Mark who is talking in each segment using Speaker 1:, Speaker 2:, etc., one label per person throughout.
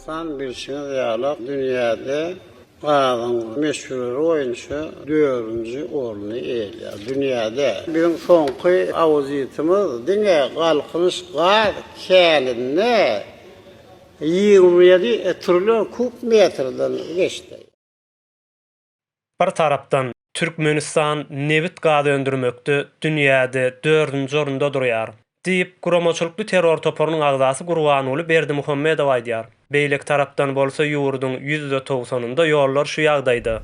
Speaker 1: Hasan bilşiňiz ýaly, dünýäde gazyň möçberleri boýunça dördünji orny eýeleýär. Dünýäde biziň soňky auditimiz diňe Galkynyş gaz käninde ýigrimi ýedi trillion kub metrden geçdi. Bir tarapdan, Türkmenistan nebit-gaz öndürmekde dünýäde dördünji orunda durýar, diýip, guramaçylykly terror toparynyň agzasy Gurbanguly Berdimuhamedow aýdýar. Beýleki tarapdan bolsa ýurduň ýüzde togsanynda ýollar şu ýagdaýda.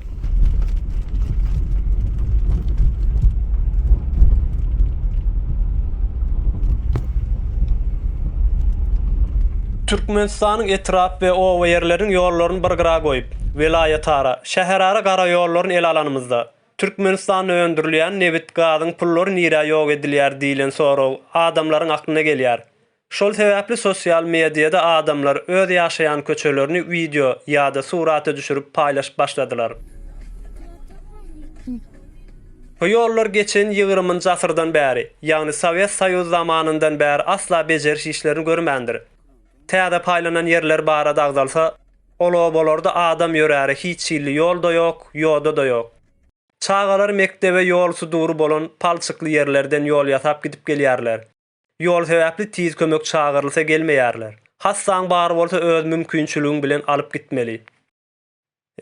Speaker 1: Türkmenistanyň etrap we oba ýerleriniň ýollaryny bir gyra goýup, Welaýatara, şäherara gara ýollaryny ele alanymyzda, Türkmenistanda öndürilýän nebit-gazyň pullary nirä ýok edilýär diýlen sorag adamlaryň aklyna gelýär. Şol sebäpli sosial mediada adamlar öz ýaşaýan köçelerini wideo ýa-da surata düşürip paýlaşyp başladylar. Bu ýollar geçen ýigrimiňji asyrdan bäri, ýagny Sowet Soýuzy zamanyndan bäri asla bejeriş işlerini görmändir. Täze paýlanan ýerler barada agzalsa, Ol obalarda adam ýöräre hiç hilli ýol-da ýok, ýoda-da ýok. Çagalar mekdebe ýol sudury bolan palçykly ýerlerden ýol ýasap gidip gelýärler. Ýol sebäpli tiz kömek çagyrylsa gelmeýärler. Hassaň bary bolsa öz mümkinçiligiň bilen alyp gitmeli.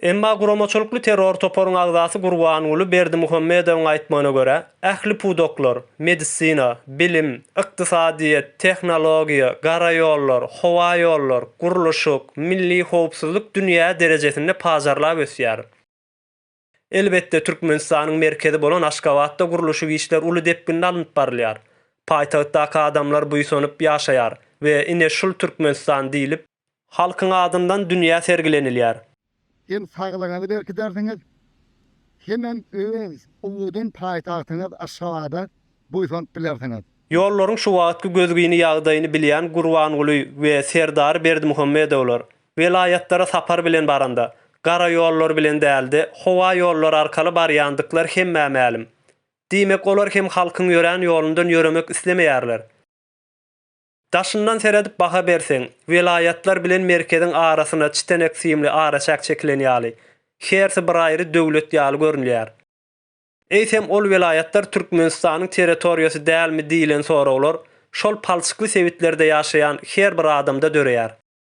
Speaker 1: Emma guramaçylykly terror toparyň agzasy Gurbanguly Berdimuhamedowyň aýtmagyna görä, Ähli pudaklar, medisina, bilim, ykdysadyýet, tehnologiýa, gara ýollar, howa ýollar, gurluşyk, milli howpsuzlyk dünýä derejesinde pajarlap ösýär. Elbetde, Türkmenistanyň merkezi bolan Aşgabatda gurluşyk işler uly depginde alnyp barylýar. Paýtagtdaky adamlar buýsanyp ýaşaýar we ine şul Türkmenistan diýlip, Halkyň adyndan dünýä sergilenilýär. Hem saglygyňyzy berkidersiňiz, hemem öz uludan paýtagtyňyz Aşgabada buýsanyp bilersiňiz. Ýollaryň şu wagtky gözgyny ýagdaýyny bilýän Gurbanguly we Serdar Berdimuhamedowlar welaýatlara sapar bilen baranda, gara ýollar bilen däl-de, howa ýollary arkaly barýandyklary hemmä mälim. Diýmek, olar hem halkyň ýörän ýolundan ýöremek islemeýärler. Daşyndan seredip baha berseň, welaýatlar bilen merkeziň arasyna çitenek simli araçäk çekilen ýaly, hersi bir aýry döwlet ýaly görünýär. Eýsem ol welaýatlar Türkmenistanyň territoriýasy dälmi diýlen soraglar şol palçykly sebitlerde ýaşaýan her bir adamda döreýär.